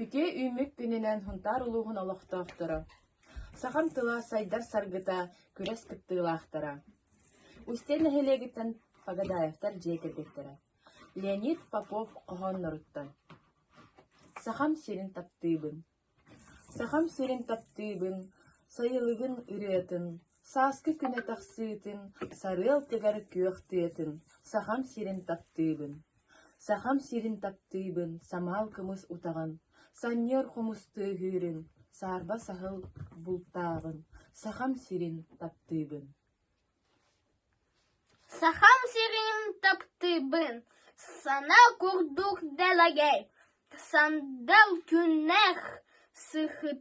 Үтүө үүммүт күнүнэн Хунтаар улууһун олохтоохторо, сахам тыла сайдар саргыта күрэс кыттыылаахтара, Устье нэһилиэгиттэн Фагадаевтар дьиэ кэргэттэрэ Леонид Попов хоһоонноруттан Сахам сирин таптыыбын, Сахам сирин таптыыбын, сайылыгын ырыатын Сааскы күнэ тахсыытын сарыал тыгар күөх тыатын Сахам сирин таптыыбын Сахам сирин таптыыбын самаал кымыс утаҕын Санньыар хомус тыаһыырын Саарба саһыл бултааҕын Сахам сирин таптыыбын Сахам сирин таптыыбын Сана курдук дэлэгэй Сандал күннэх сыһыт